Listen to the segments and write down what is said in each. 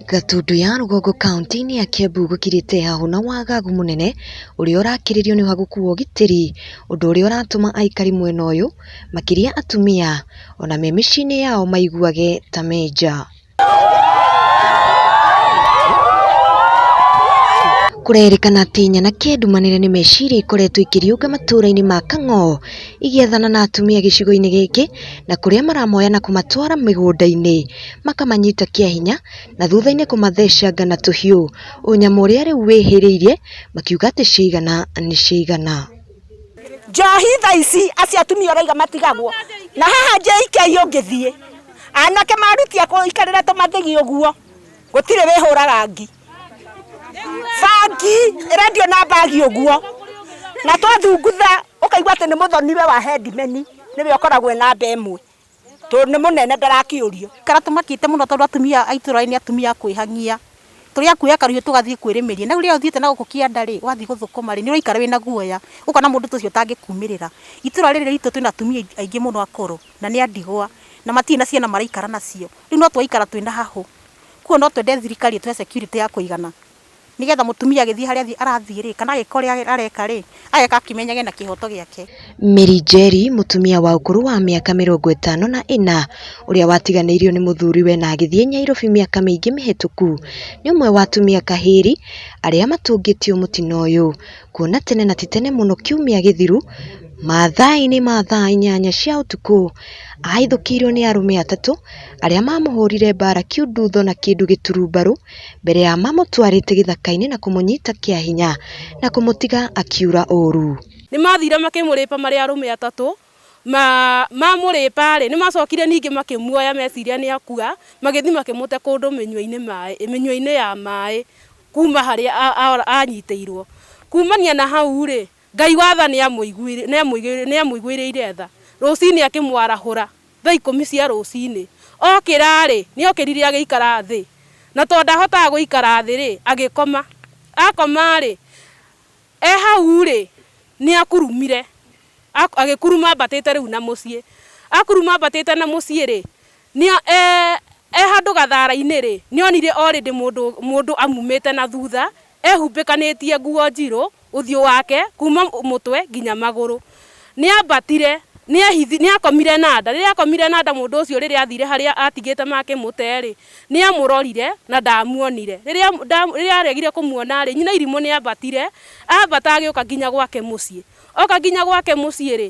Gatundu ya Rũgongo kaunti-inĩ ya Kiambu gũkirĩte hahũ na wagagu mũnene ũrĩa ũrakĩrĩrio nĩ wa gũkuo ũgitĩri, ũndũ ũrĩa ũratũma aikari mwena ũyũ makĩria atumia ona me mĩciĩ-inĩ yao maiguage ta me nja. Kũrerĩkana atĩ nyana kĩndumanĩre nĩ meciria ikoretwo ikĩriũnga matũũra-inĩ ma Kang'oo igĩathana na atumia gĩcigo-inĩ gĩkĩ na kũrĩa maramoya na kũmatwara mĩgũnda-inĩ makamanyita kĩa hinya na thutha-inĩ kũmathecanga na tũhiũ ũnyamũ ũrĩa rĩu wĩhĩrĩirie makiuga atĩ ciaigana nĩ ciaigana. Njohi tha ici acio atumia ũraiga matigagwo na haha JK ũngĩthiĩ anake marutia kũikarĩra tũmathigi ũguo gũtirĩ wĩhũraga ngi bangi ĩrendio na mbagi ũguo na twathungutha ũkaigua atĩ nĩ mũthoniwe wa headman nĩwe ũkoragwo ena nda ĩmwe tondũ nĩ mũnene ndarakĩũrio. Kana tũmakĩte mũno tondũ atumia a itũũra rĩrĩ nĩ atumia a kwĩhang'ia. Tũrĩa kuoya kahiũ tũgathiĩ kwĩrĩmĩria. Na rĩu rĩrĩa ũthiĩte na gũkũ kĩanda rĩ, wathiĩ gũthũkũma rĩ, nĩ ũraikara wĩna guoya. Ũkona mũndũ ta ũcio ũtangĩkuumĩrĩra. Itũũra rĩrĩ ritũ twĩna atumia aingĩ mũno akũrũ, na nĩ a ndigwa, na matirĩ na ciana maraikara nacio. Rĩu no tũraikara twĩna hahũ. Kwoguo no twende thirikari ĩtũhe security ya kũigana Nĩgetha mũtumia agĩthiĩ harĩa arathiĩ-rĩ, kana agĩka ũrĩa areka-rĩ, ageka akĩmenyaga ena kĩhoto gĩake. Mary Njeri, mũtumia wa ũkũrũ wa mĩaka mĩrongo ĩtano na ĩna, ũrĩa watiganĩirio nĩ mũthuriwe na agĩthiĩ Nyairobi mĩaka mĩingĩ mĩhĩtũku, nĩ ũmwe wa atumia kahĩĩri arĩa matũngĩtio mũtino ũyũ, kuona tene na ti tene mũno kiumia gĩthiru, mathaa-inĩ ma thaa inyanya cia ũtukũ, ahithũkĩirwo nĩ arũme atatũ, arĩa mamũhũrire mbara kiundutho na kĩndũ gĩturumbarũ. mbere ya mamũtwarĩte gĩthaka-inĩ na kũmũnyita kĩa hinya na kũmũtiga akiura ũũru. Nĩ maathire makĩmũrĩpa marĩ arũme atatũ. Mamũrĩpa-rĩ, nĩ maacokire ningĩ makĩmuoya meciria nĩ akua, magĩthiĩ makĩmũte kũndũ mĩnyua-inĩ ya maĩ kuuma harĩa aanyitĩirũo. Kuumania na hau-rĩ, Ngai wa tha nĩamũiguĩrĩire tha. Rũcinĩ akĩmwarahũra thaa ikũmi cia rũcinĩ. Okĩra-rĩ, nĩokĩrire agĩikara thĩ, na tondũ ndahotaga gũikara thĩ-rĩ, agĩkoma. Akoma-rĩ, e hau-rĩ, nĩakurumire, agĩkuruma ambatĩte rĩu na mũciĩ. Akuruma ambatĩte na mũciĩ-rĩ, e handũ gathara-inĩ-rĩ, nĩonire already mũndũ amumĩte na thutha Eehumbĩkanĩtie nguo njirũ, ũthiũ wake kuuma mũtwe nginya magũrũ. Nĩambatire, nĩehithi, nĩakomire na nda. Rĩrĩa aakomire na nda, mũndũ ũcio rĩrĩa aathiire harĩa aatigĩte makĩmũte-rĩ, nĩamũrorire na ndaamuonire. Rĩrĩa, nda, rĩrĩa aaregire kũmuona-rĩ, nyina irimũ nĩambatire, aambata agĩũka nginya gwake mũciĩ. Oka nginya gwake mũciĩ-rĩ,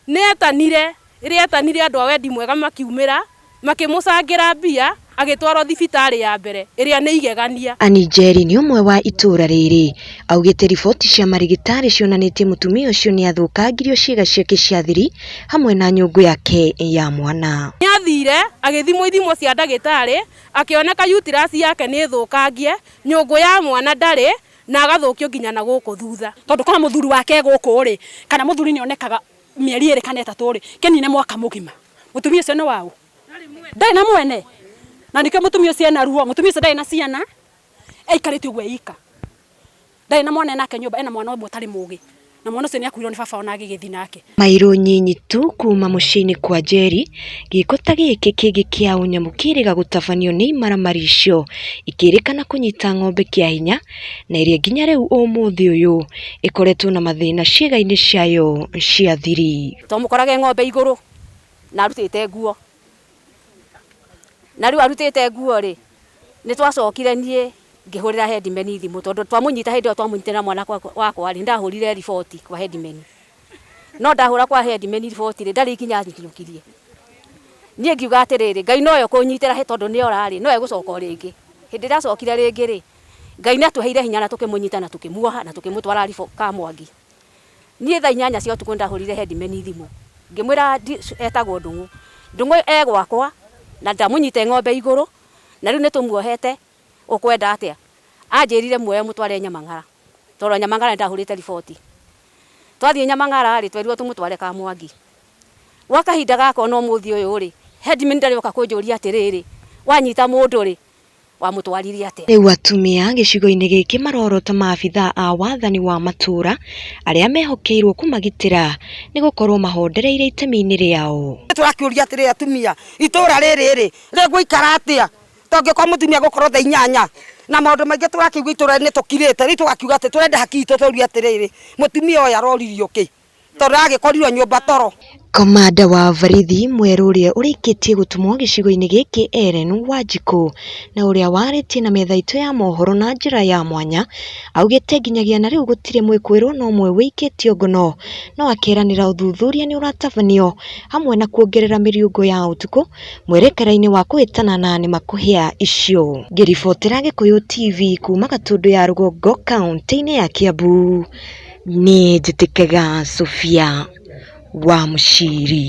Nĩetanire, rĩrĩa etanire andũ a wendi mwega makiumĩra, makĩmũcangĩra mbia, agĩtwarwo thibitarĩ ya mbere, ĩrĩa nĩ igegania. Annie Njeri nĩ ũmwe wa itũũra rĩrĩ augĩte riboti cia marĩgĩtarĩ cionanĩtie mũtumia ũcio nĩathũkangirio ciĩga ciake cia thiri hamwe na nyũngũ yake ya mwana. Nĩathire, agĩthimwo ithimo cia ndagĩtarĩ, akĩoneka uterus yake nĩ thũkangie, nyũngũ ya mwana ndarĩ, Na agathũkio nginya na gũkũ thutha. Tondũ korwo mũthuri wake e gũkũ-rĩ, kana mũthuri nĩonekaga mĩeri ĩrĩ kana ĩtatũ-rĩ, kĩnine mwaka mũgima, mũtumia ũcio nĩ wa ũ? Ndarĩ na mwene. Na nĩkĩo mũtumia ũcio ena ruo. Mũtumia ũcio ndarĩ na ciana, aikarĩte ũguo e ika. Ndarĩ na mwana e nake nyũmba, ena mwana ũmwe ũtarĩ mũgĩ. Na mwana ũcio nĩakuirwo nĩ baba ona agĩgĩthiĩ nake. Mairũ nyinyi tu kuuma mũciĩ-inĩ kwa Njeri, gĩĩko ta gĩkĩ kĩngĩ kĩa ũnyamũ kĩrĩga gũtabanio nĩ imaramari icio ikĩrĩkana kũnyita ng'ombe kĩa hinya na ĩrĩa nginya rĩu ũmũthĩ ũyũ ĩkoretwo na mathĩna ciĩga-inĩ ciayo cia thiri. Twamũkorage ng'ombe igũrũ na arutĩte nguo. Na rĩu arutĩte nguo-rĩ, nĩ twacokire niĩ ngĩhũrĩra headman thimũ tondũ twamũnyita hĩndĩ ĩyo twamũnyitire na mwana wakwa-rĩ, nĩ ndahũrire riboti kwa headman. No ndahũra kwa headman riboti-rĩ, ndarĩ ikinya anyiũkirie. Niĩ ngiuga atĩrĩrĩ, Ngai nowe ũkũnyitĩra hĩ tondũ nĩ ora-rĩ, nowe egũcoka o rĩngĩ. Hĩndĩ ĩrĩa acokire rĩngĩ-rĩ, Ngai nĩ atũheire hinya na tũkĩmũnyita na tũkĩmuoha na tũkĩmũtwara Kamwangi. Niĩ thaa inyanya cia ũtukũ nĩndahũrĩire headman thimũ ngĩmwĩra etagwo Ndũng'ũ. Ndũng'ũ e gwakwa na ndamũnyite ng'ombe igũrũ na rĩu nĩtũmuohete ũkwenda atĩa? Anjĩrire muoe mũtware Nyamang'ara tondũ Nyamang'ara nĩndahũrĩte riboti. Twathiĩ Nyamang'ara rĩ, twerirwo tũmũtware Kamwangi. Gwa kahinda gaka o na ũmũthĩ ũyũ rĩ, headman ndarĩ oka kũnjũria atĩrĩrĩ, wanyita mũndũ rĩ? wamũtwarire atĩa? Rĩu atumia gĩcigo-inĩ gĩkĩ marorota maabithaa a wathani wa matũra arĩa mehokeirwo kũmagitĩra nĩ gũkorwo mahondereire itemi-inĩ rĩao. Tũrakĩũria atĩrĩ atumia, itũra rĩrĩ rĩ, rĩgũikara atĩa tũngĩkorwo mũtumia gũkorwo thaa inyanya na maũndũ maingĩ tũrakĩigua itũra-inĩ nĩ tũkirĩte, rĩu tũgakiuga atĩ tũrenda haki itũ tũrie atĩrĩrĩ, mũtumia ũyũ aroririo kĩ? tondũ agĩkorirwo nyũmba toro. Komanda wa borithi mwerũ ũrĩa ũrĩkĩtie gũtũmwo gĩcigo-inĩ gĩkĩ Ellen Wanjikũ na ũrĩa warĩtie na metha itũ ya mohoro na njĩra ya mwanya augĩte nginyagia na rĩu gũtirĩ mwĩkũĩrwo na ũmwe wĩikĩtio ngono no akeranĩra ũthuthuria nĩ ũratabanio hamwe na kuongerera mĩriũngũ ya ũtukũ mwerekera-inĩ wa kũhĩtana na nĩ makũhĩa icio. Ngĩribotera Gĩkũyũ TV kuma Gatũndũ ya rũgongo kauntĩ-inĩ ya Kiambu. Niĩ njĩtĩkaga Sofia wa Mũciri.